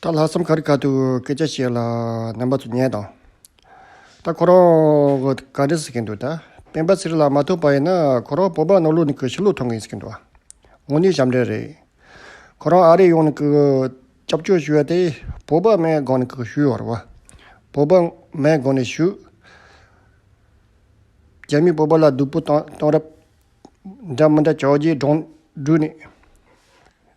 ད་ལྷག་བསམ་ཁར་ག་དུས་སྐད་ཆ་བཤད་ལ་རྣམ་པ་ཚོ་ཉན་དང། ད་ཁོ་རང་གི་ག་འདྲི་ཟེར་གྱི་འདུག་ད་སྤེན་པ་ཚེ་རིང་ལགས་མ་ཐུག་པ་ཡིན་ན་ཁོ་རང་བོད་འབངས་ནང་ལུགས་ནས་གི་ཕྱི་ལུགས་ཐོང་གིན་ཟེར་གྱི་འདུག་དངོས་གནས་ཞབས་འདྲེན་རེད། ཁོ་རང་ཨ་རི་ཡོང་ནས་གི་སྐྱབས་བཅོལ་ཞུ་ཡ་དེ་བོད་པ་མའི་སྒང་ནས་གི་ཞུ་ཡོང་རེད་བ། བོད་པ་མའི་སྒང་ནས་ཞུ། རྒྱ་མིས་བོད་པ་ལ་སྡུག་པོ་བཏང་རབས་འདྲ་མི་འདྲ་བྱ་རྒྱའི་སྒྲོང་སྦྲུལ་ནས།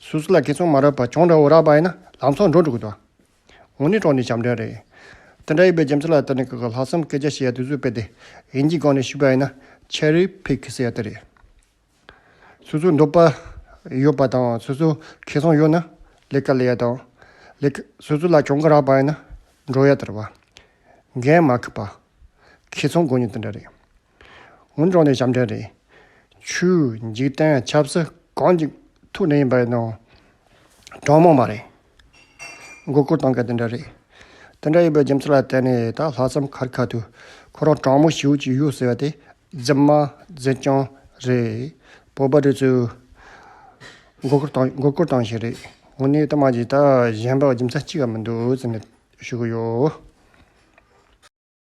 སུ་སུ་ལ་ཁེ་ཚོང་མ་རག་པ་གྱོང་རག་འོ་རག་པ་ཡིན་ན་ལང་ཚོ་འགྲོ་འགྲོ་གི་འདུག་ངོ་ནི་གྲོགས་ནི་བྱམས་ལྡན་རེད། དེ་འདྲ་ཡིན་པའི་རྒྱུ་མཚན་ལ་ལྟོས་ནས་ཁག་གི་ལྷག་བསམ་སྐད་ཆ་བཤད་ཡ་དུས་ཚོད་སྤེལ་ཏེ་ཡིན་གྱི་སྒང་ནས་ཞུས་པ་ཡིན་ན Cherry Pick ཟེར་ཡ་དེ་རེད། སོ་སོ་འདོད་པ་ཡོད་པ་དང་སོ་སོ་ཁེ་ཚོང་ཡོད་ན་ལས་ཀ་ལས་ཡ་དང། སོ་སོ་ལ་གྱོང་ག་རག་པ་ཡིན་ན་འགྲོ་ཡ་དེ་རེད་བ། འགན་མ་ཁུར་བ། ཁེ་ཚོང་དགོས་ཉེན་དེ་འདྲ་རེད། ངོ་འབྱོངས་ནས་ཞབས་འདྲེན་རེད། ཆུའི་འཇིག་རྟེན་ཆབ་སྲིད་གང་གི་ཐུགས་ནས་ཡིན་པ་ཡིན་ནོ། གྲང་མོ་མ་རེད། མགོ་སྐོར་གཏོང་མཁན་དེ་འདྲ་རེད། དེ་འདྲ་ཡིན་པའི་རྒྱུ་མཚན་ལ་བརྟེན་ནས་ད་ལྷག་བསམ་ཁར་ཁ་ཐུག་ཁོ་རང་གྲང་མོ་ཞེའུ་ཅིག་གཡུག་ཟེར་བ་དེ་རྫུན་མ་རྫུན་རྐྱང་རེད། བོད་པ་རེ་ཚོས་མགོ་སྐོར་གཏོང་བཞིན་རེད། དངོས་གནས་གཏམ་འདི་དག་གཞན་པ་རྒྱུ་མཚན་གཅིག་གམ་མི་འདུག་ཟེར་ནས་ཞུ་གི་ཡོད།